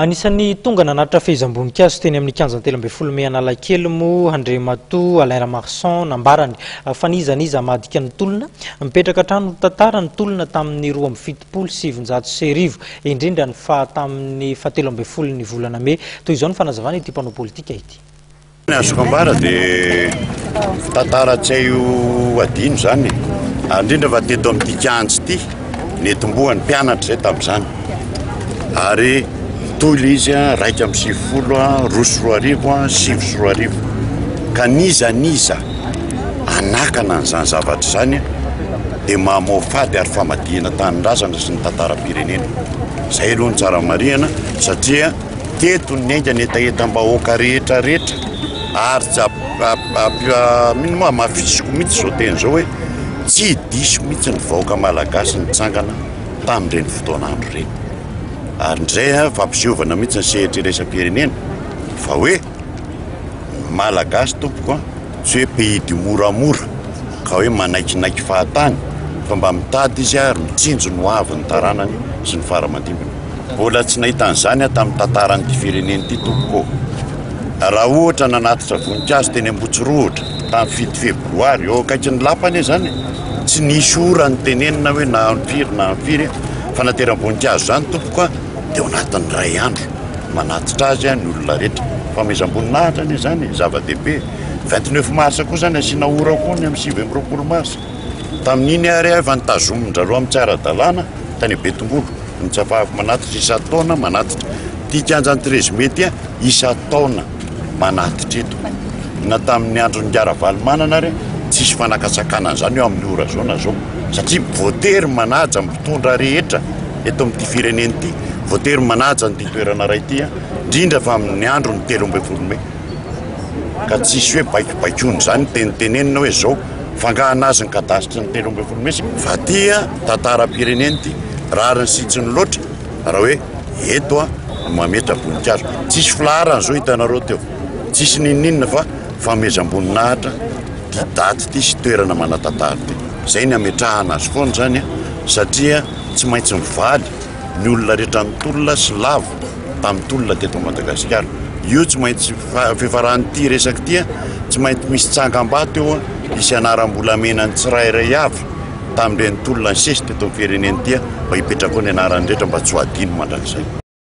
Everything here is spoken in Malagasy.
Anisan'ny tonga nanatitra fehezam-boninkazo teny amin'ny kianja telo ambin'ny folo mey Analakely moa Andriamatoa Alain Ramarson nambarany fa n'iza n'iza hamadika ny tolona, mipetraka hatrany ho tantara ny tolona tamin'ny roa amby fitopolo sy sivinjato sy arivo, indrindra ny faha tamin'ny fahatelo ambin'ny folon'ny volana mey. Toy izao ny fanazavana ity mpanao politika ity. Ny azoko ambara dia tantara tsy hay ho adino izany ary indrindra fa teto amin'ity kianja ity netombohan'ny mpianatra izay tamin'izany ary toy ilay izy a raika amin'ny sivifolo a roa sy roa arivo a sivy sy roa arivo ka niza niza anakana an'izany zavatra izany dia mahamao fady ary famadihana tanindrazana sy ny tantaram-pirenena izay aloha ny tsara marihana satria teto ny haingana hetahetam-bahoaka rehetra rehetra ary tsy mino moa hamafisiko mihitsy izao teny izao hoe tsy diso mihitsy ny vahoaka malagasy nitsangana tamin'ireny fotoana andro ireny ary indray a fampisehovana mihitsy ny sehatra iraisam-pirenena fa hoe malagasy tompoko a tsy hoe pays du moramora ka hoe manaikinaiky fahatany fa mba mitady izy ary mitsinjo ny hoavy ny taranany sy ny fara-mandimbiny Mbola tsy nahita an'izany aho tamin'ny tantaran'ity firenena ity tompoko ô. Raha ohatra nanatitra voninkazo teny Ambotsirohotra tamin'ny fito febroary eo akaikin'ny lapa anie izany e. Tsy nisy ora nitenenina hoe na amin'ny firy na amin'ny firy fa nateram-boninkazo izany tompoko a dia ao anatin'ny iray andro manatitra azy ny olona rehetra. Fanomezam-boninahitra anie izany e, zava-dehibe. 29 mars koa izany asiana ora koa ny amin'ny sivy amby roapolo mars. Tamin'iny ary aho efa notazomin-dry zareo amin'ny tsy ara-dalàna tany Betongolo. ny Tsapahafy manatitra isan-taona manatitra ity kianjan'ny Treize Mai ity isan-taona manatitra eto na tamin'ny andron'ny Ingahy Ravalomanana ary tsisy fanakatsakana an'izany eo amin'ny ora zao na zao satria voatery manaja ny mpitondra rehetra eto amin'ity firenena ity voatery manaja ny toerana iray ity indrindra fa amin'ny andron'ny telo ambin'ny folo mai ka tsisy hoe baikobaikoana izany tenitenenina hoe zao fangahana azy ny kadasitry ny telo ambin'ny folo mey sy fahatia tantaram-pirenena ity rariny sy tsy ny loatra raha hoe eto a no mametra boninkazo tsisy filaharana zao hitanareo teo tsisy nininina fa famezam-boninahitra ty daty ity sy toerana manatantara ity izay ny ametrahana azy foana izany a satria tsy maintsy mivaly ny olona rehetra nitolona sy lavo tamin'ny tolona teto Madagasikara. Io tsy maintsy fifaran'ity resaka ity tsy maintsy misy tsangambato eo hisy anaram-bolamena ny tsirairay avy tamin'ireny tolona nisesy teto amin'ny firenena ity mba hipetraka ao ny anaran'ny rehetra mba tsy ho adino mandrakizay.